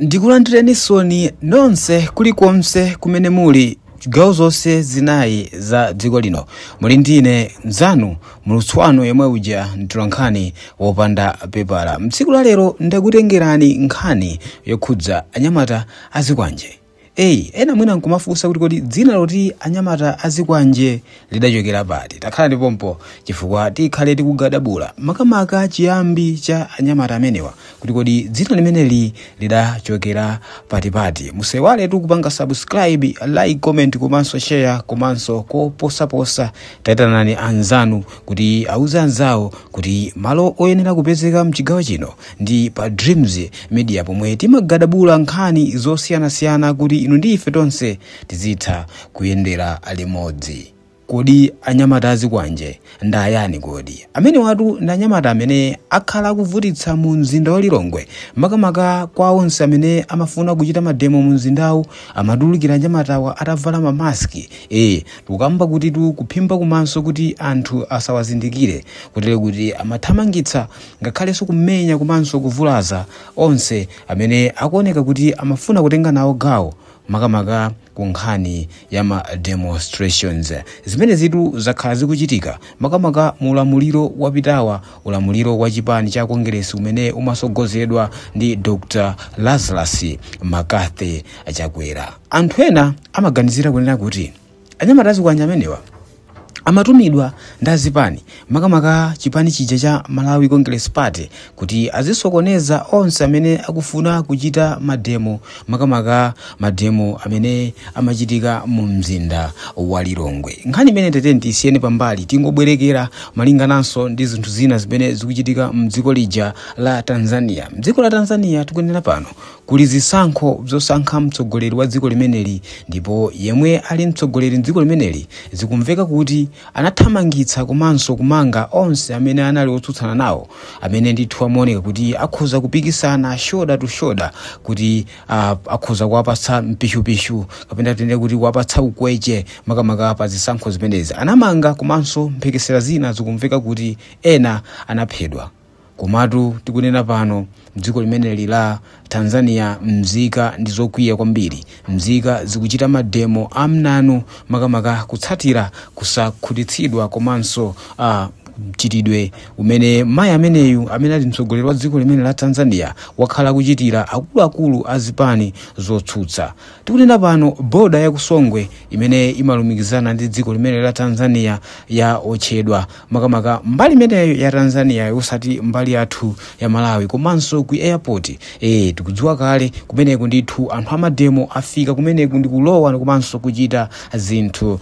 ndikulandirenisoni nonse kulikonse kumene muli chigawo zonse zinayi za dziko lino muli ndine mzanu muulutsi wanu yemwe uja mtolankhani wopanda pepala mtsiku la lero ndakutengerani nkhani yokhudza anyamata azikwanje Ei, ena mwina nkumafunsa kuti kodi dzina loti anyamata azikwanje lidachokera pati? Takhala ndipompo chifukwa tikhale tikugadabula makamaka chiyambi cha anyamata amenewa kuti kodi dzina limeneli lidachokera patipati. Musaiwaletu kupanga subscribe, like, comment komanso share komanso koposaposa taitanani anzanu kuti auze anzawo kuti malo oyenera kupezeka mchigawo chino Ndi pa Dreams Media pomwe timagadabula nkhani zosiyanasiyana kuti inu ndi ife tonse tizitha kuyendera limodzi. Kodi anyamata azikwanje ndayani kodi? Amenewatu ndi anyamata amene akhala akuvutitsa mu mzinda wa Lilongwe. Makamaka kwa onse amene amafuna kuchita mademo mu mzindawu amatulukira anyamatawa atavala mamaski. Eh, tikukamba kutitu kuphimba kumaso kuti anthu asawazindikire kutero kuti amathamangitsa ngakhalenso kumenya komanso kuvulaza onse amene akuoneka kuti amafuna kutenga nawo gawo makamaka ku nkhani ya ma demonstrations zimenezitu zakhala zikuchitika makamaka mu ulamuliro wapitawu ulamuliro wa chipani cha kongeresi umene umasogozedwa ndi dr lazarus mccarthy chakwera anthu ena amaganizira kunena kuti anyamata azikwanje amenewa amatumidwa ndazipani makamaka chipani chija cha malawi congress party kuti azisokoneza onse amene akufuna kuchita mademo makamaka mademo amene amachitika mu mzinda wa lilongwe nkhani imeneyi teteniti tiisiyeni pambali tingobwerekera malingananso ndi zinthu zina zimene zikuchitika mdziko lija la tanzania mdziko la tanzania tikunena pano Kuli zisankho zosankha mtsogoleri wa dziko limeneli ndipo yemwe ali mtsogoleri mdziko limeneli zikumveka kuti anathamangitsa komanso kumanga onse amene anali otsutsana nawo amene ndithu amaoneka kuti akhoza kupikisana shoulder to shoulder kuti uh, akhoza kuwapatsa mpishupishu kapena tinene kuti kuwapatsa ukweche makamaka pa zisankho zimenezi anamanga komanso mphekesera zina zikumveka kuti ena anaphedwa Komatu tikunena pano, m'dziko limeneli la Tanzania mzika ndi zokwiya kwambiri. Mzika zikuchita mademo amnanu makamaka kutsatira kusakhutitsidwa komanso mchitidwe umene mayi ameneyu amene ali mtsogoleri wa dziko limene la Tanzania wakhala akuchitira akuluakulu a zipani zotsutsa. Tikunena pano boda ya ku Songwe imene imalumikizana ndi dziko limene la Tanzania yatsekedwa makamaka mbali imeneyo ya tanzania osati mbali yathu ya malawi komanso ku airport tikudziwa kale kumeneko ndithu anthu amademo afika kumeneko ndikulowa komanso kuchita zinthu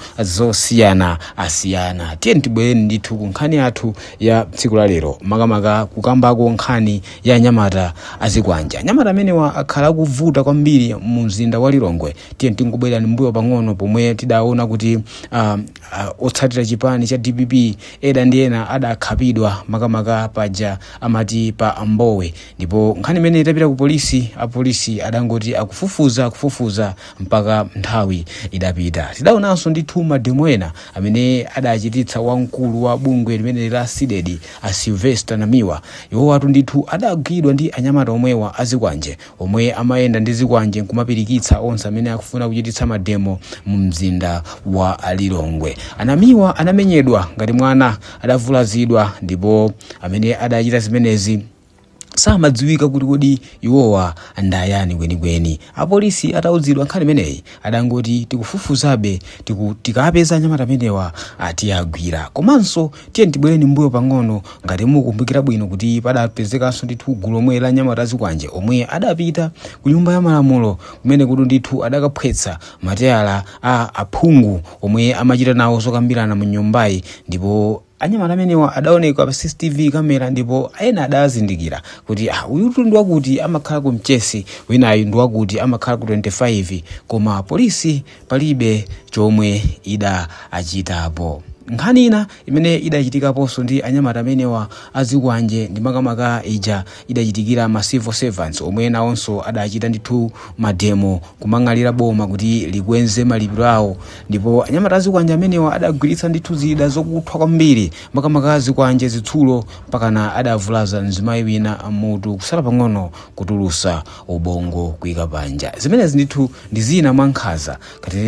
zosiyanasiyana tiyeni tibwereni ndithu ku nkhani yathu ya tsiku la lero makamaka kukambako nkhani ya anyamata azikwanje anyamata amenewa akhala akuvuta kwambiri mu mzinda wa lilongwe tiyeni tingobwerani mbuyo pang'ono pomwe tidaona kuti um, Uh, otsatira chipani cha dpp eda ndi ena adakhapidwa makamaka paja amati pa Mbowe ndipo nkhani imene itapita ku polisi apolisi adangoti akufufuza akufufuza mpaka nthawi idapita tidaonanso ndithu mademo ena amene adachititsa wamkulu wa bungwe limene la CDEDI a Sylvester namiwa iwowatu ndithu adagwidwa ndi anyamata omwewa azikwanje omwe amayenda ndi zikwanje nkumapirikitsa onse amene akufuna kuchititsa mademo mu mzinda wa lilongwe a Namiwa anamenyedwa ngati mwana adavulazidwa ndipo amene adachita zimenezi samadziwika kuti kodi iwowa ndayani kwenikweni apolisi atauzidwa nkhani imeneyi adangoti tikufufuzabe tiku, tikapeza anyamata amenewa tiwagwira komanso tiyeni tibwereni mbuyo pang'ono ngati mukumbukira bwino kuti padapezekanso ndithu gulu lomwela la anyamata azikwanje omwe adapita ku nyumba ya malamulo kumenekutu ndithu adakaphwetsa mateyala a aphungu omwe amachita nawo zokambirana mu nyumbayi ndipo Anyamata amenewa adaoneka pa CCTV kamera ndipo ena adazindikira kuti ah, uyutu ndi wakuti amakhala ku Mchesi, winayu ndi wakuti amakhala ku 25 koma polisi palibe chomwe idachitapo. Nkhani ina imene idachitikaponso ndi anyamata amenewa azikwanje ndi makamaka ija idachitikira ma civil servants omwe nawonso adachita ndithu mademo kumang'alula boma kuti likweze malipiro awo ndipo anyamata azikwanje amenewa adagwiritsa ndithu zida zokuthwa kwambiri makamaka zikwanje zitsulo mpakana adavulaza mzimayi wina m'mutu kusala pang'ono kutulusa ubongo kuika panja zimenezi ndithu ndi zina mwa nkhanza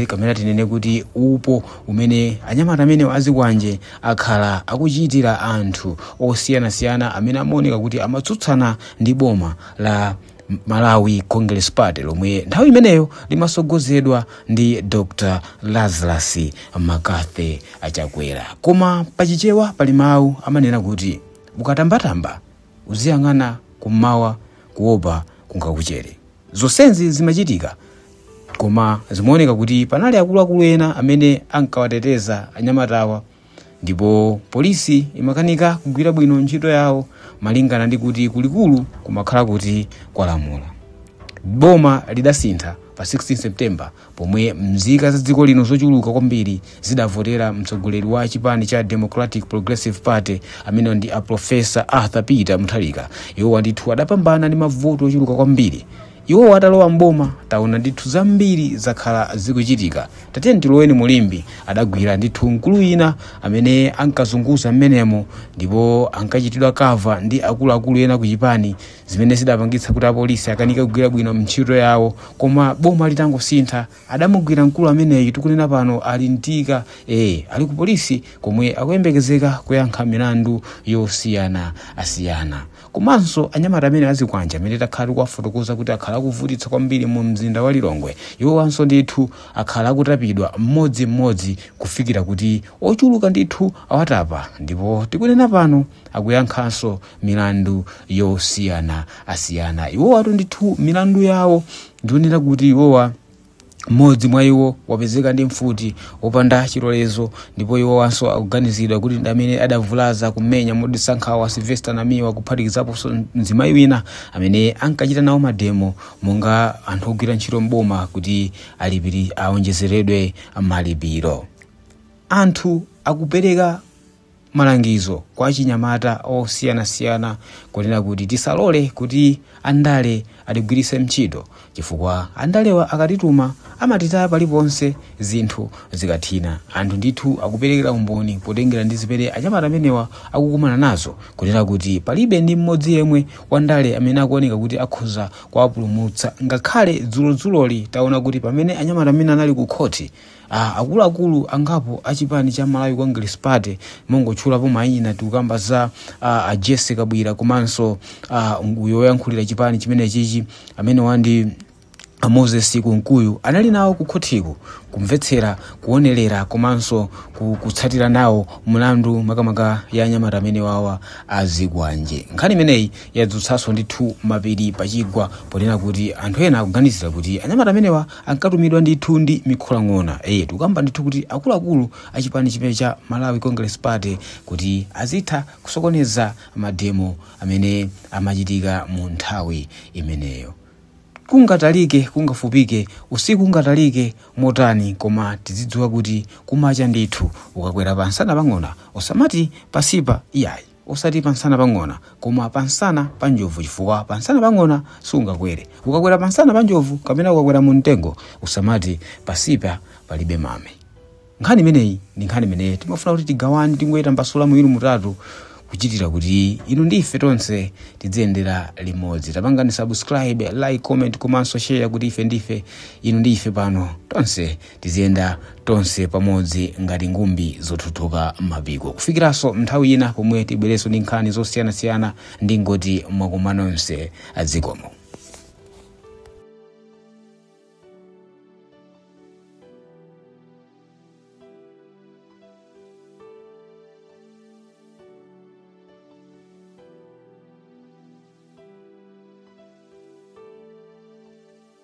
kapena tinene kuti upandu umene anyamata amenewa azikwanje akhala akuchitira anthu osiyanasiyana amene amaoneka kuti amatsutsana ndi boma la malawi congress party lomwe nthawi imeneyo limasogozedwa ndi dr lazarus McCarthy Chakwera koma pachichewa pali mawu amanena kuti ukatambatamba uziyang'ana kummawa kuopa kungakuchere Zonsezi zimachitika, koma zimaoneka kuti panali akuluakulu ena amene ankawateteza anyamatawa ndipo polisi imakanika kugwira bwino ntchito yawo malingana ndi kuti kulikulu kumakhala kuti kwalamula. Boma lidasintha pa 16 September Pomwe mzika za dziko lino zochuluka kwambiri zidavotera mtsogoleri wa chipani cha Democratic Progressive Party amene ndi a Professor Arthur Peter Mutharika, iwowa ndithu adapambana ndi mavoti ochuluka kwambiri. Iwowa atalowa m'boma, taona ndithu zambiri zakhala zikuchitika. Tatiyeni tiloweni mu Limbe, adagwira ndithu mkulu wina amene ankazunguza mmenemo ndipo ankachitidwa cover ndi akuluakulu ena ku chipani zimene zidapangitsa kuti apolisi akanike kugwira bwino ntchito yawo koma boma litangosintha adamugwira mkulu ameneyi tikunena pano ali m'chitokosi ali ku polisi komwe akuyembekezeka kuyankha milandu yosiyana asiyana komanso anyamata amenewa azikwanje amene takhala tikuwafotokoza kuti akhala akuvutitsa kwambiri mu mzinda wa lilongwe iwowanso ndithu akhala akutapidwa mmodzimmodzi kufikira kuti ochuluka ndithu awatapa ndipo tikunena pano akuyankhanso milandu yosiyana asiyana iwowatu ndithu milandu yawo ndi yonena kuti iwowa mmodzi mwa iwo wapezeka ndi mfuti yopanda chilolezo ndipo iwowanso akuganizidwa kuti ndi amene adavulaza kumenya modetsa nkhawa Sylvester namiwa kuphatikizaponso mzimayi wina amene ankachita nawo mademo monga anthu ogwira ntchito mboma kuti alipiri aonjezeredwe malipiro anthu akupereka malangizo kwa achinyamata osiyanasiyana kunena kuti tisalole kuti andale atigwiritse ntchito chifukwa andalewa akatituma amatitaya paliponse zinthu zikathina anthu ndithu akuperekera umboni potengera ndi zimene anyamata amenewa akukumana nazo kunena kuti palibe ndi mmodzi yemwe wandale amene akuoneka kuti akhoza kuwapulumutsa ngakhale dzulodzuloli taona kuti pamene anyamata amenewa anali ku khoti Ah, akuluakulu angapo a chipani cha malawi congress party mongotchulapo mayina tikukamba za ah, a Jessie Kabwila komanso ah, uyu woyankhulira chipani chimenechichi amenewa ndi a moses kunkuyu anali nawo ku khotiko kumvetsera kuonerera komanso ku- kutsatira nawo mlandu makamaka ya anyamata amenewawa azikwanje nkhani imeneyi yadzutsanso ndithu mapiri pachigwa ponena kuti anthu ena akuganizira kuti anyamata amenewa ankatumidwa ndithu ndi mikholing'ona eh tikukamba ndithu kuti akuluakulu a chipani chimene cha malawi congress party kuti azitha kusokoneza mademo amene amachitika mu nthawi imeneyo kungatalike kungafupike usiku ungatalike motani koma tizidziwa kuti kumacha ndithu ukakwera pa nsana pa ng'ona usamati pansipa iyayi osati pa nsana pa ng'ona koma pa nsana pa njovu chifukwa pa nsana pa ng'ona sungakwere ukakwera pa nsana pa njovu kapena ukakwera mu mtengo usamati pansipa palibe mame nkhani imeneyi ndi nkhani imene timafuna kuti tigawane tingoyitambasula muwiri mutatu kuchitira kuti inu ndi ife tonse tidziyendera limodzi tapangani subscribe like comment komanso share kuti ife ndife inu ndi ife pano tonse tiziyenda tonse pamodzi ngati ngumbi zothothoka mapiko kufikiranso nthawi ina pomwe tibwerenso ndi nkhani zosiyanasiyana ndingoti mwakoma nonse zikomo